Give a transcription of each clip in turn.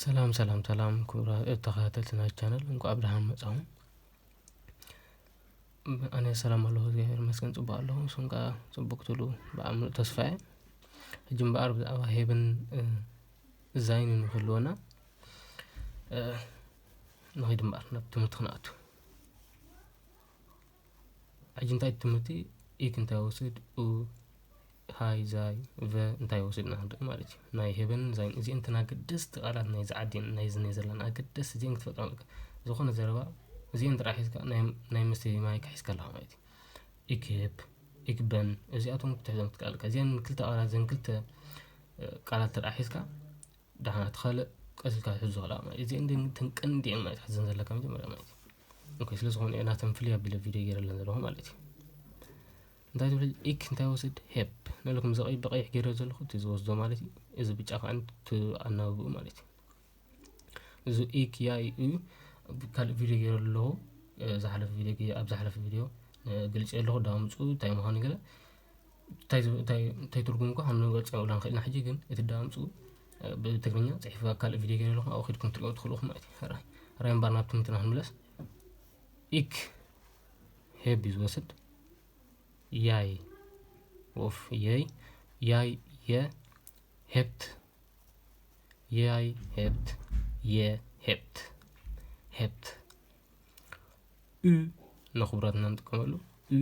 ሰላም ሰላም ሰላም ክቡራ ተኸታተልቲ ናይ ቻነል እንኳዕ ብድሓን መጻኹም ኣነ ሰላም ኣለኹ እግዚኣብሔር መስገን ፅቡቅ ኣለኹ ንስኹም ከዓ ፅቡቅ ትብሉ ብኣምሉእ ተስፋ እየ ሕጂ እምበኣር ብዛዕባ ሄብን ዛይን ንክህልወና ንኸይድ እምበኣር ናብ ትምህርቲ ክንኣቱ ሕጂ እንታይ ትምህርቲ ኢክ እንታይ ወስድ ኡ ሃይ ዛይ ቨ እንታይ ወስድ ኢና ክንርኢ ማለት እዩ ናይ ሄበንን ዛይን እዚአን እተን ኣገደስቲ ቃላት ናይዚ ዓዲ ናይዚ ናይ ዘለና ኣገደስቲ እዚአን ክትፈጥራ ኣለካ ዝኾነ ዘረባ እዚአን ጥራሕ ሒዝካ ናይ መስተይ ማይ ክሒዝካ ኣለካ ማለት እዩ ኢክብ ኢክበን እዚኣቶም ክትሕዞም ክትከኣል ኣለካ እዚአን ክልተ ቃላት ዘን ክልተ ቃላት ጥራሕ ሒዝካ ደሓና እቲ ካልእ ቀስ ኢልካ ትሕዞ ኣለካ ማለት እዩ እዚአን እተን ቀንዲ እየን ማለት ሓዘን ዘለካ መጀመርያ ማለት እዩ ኦኬ ስለ ዝኾነ እየ ናተን ፍልይ ኣቢለ ቪድዮ ገይረለን ዘለኹ ማለት እዩ እንታይ ትብል ኢክ እንታይ ወስድ ሄፕ ንለኩም ዘቐይ ብቐይሕ ገይረ ዘለኹ እቲ ዝወስዶ ማለት እዩ እዚ ብጫ ከዓ ኣናብብኡ ማለት እዩ እዚ ኢክ ያ እዩ ካልእ ቪድዮ ገይረ ኣለኹ ዝሓለፈ ቪድዮ ኣብ ዝሓለፈ ቪድዮ ግልፂ ኣለኹ ዳምፁ እንታይ ምዃኑ ገለ እንታይ ትርጉሙ እኳ ክንገልፆ የብልናን ኽኢልና ሕጂ ግን እቲ ዳምፁ ብትግርኛ ፅሒፉ ኣብ ካልእ ቪድዮ ገይረ ኣለኹ ኣብኡ ኺድኩም ክትሪኦ ትኽእሉ ኢኹም ማለት እዩ ሕራይ ሕራይ እምበር ናብ ትምህርትና ክንምለስ ኢክ ሄብ እዩ ዝወስድ ያይ ወፍ የይ ያይ የ ሄብት ያይ ሄብት የ ሄብት ሄብት ኡ ንኽብረትና ንጥቀመሉ ኡ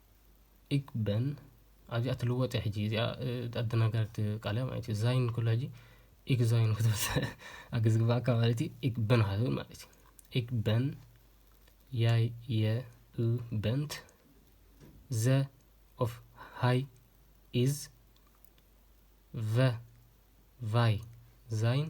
ኢክ በን ኣብዚኣ ትልወጥ እያ ሕጂ እዚኣ ኣደናጋሪት ቃል እያ ማለት እዩ ዛይን ኩሉ ሕጂ ኢክ ዛይን ክትበስ ኣገ ዝግባኣካ ማለት እዩ ኢክ በን ሃትብል ማለት እዩ ኢክ በን ያይ የ ኡ በንት ዘ ኦፍ ሃይ ኢዝ ቨ ቫይ ዛይን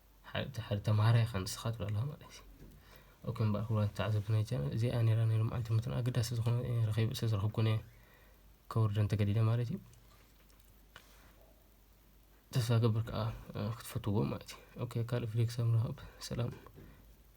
ሓደ ተማሃራይ ኢኻ ንስኻ ትብለላ ማለት እዩ ኦኬ እምበኣር ክብላ ተዓዘብቲ ናይ ቻይና እዚኣ ነይራ ነይሩ መዓልቲ ምትን ኣገዳሲ ዝኾነ ረኺብ ስለ ዝረኽብኩን እየ ከውርደን ተገዲደ ማለት እዩ ተስፋ ገብር ከዓ ክትፈትዎ ማለት እዩ ኦኬ ካልእ ቪዲዮ ክሳብ ንራኸብ ሰላም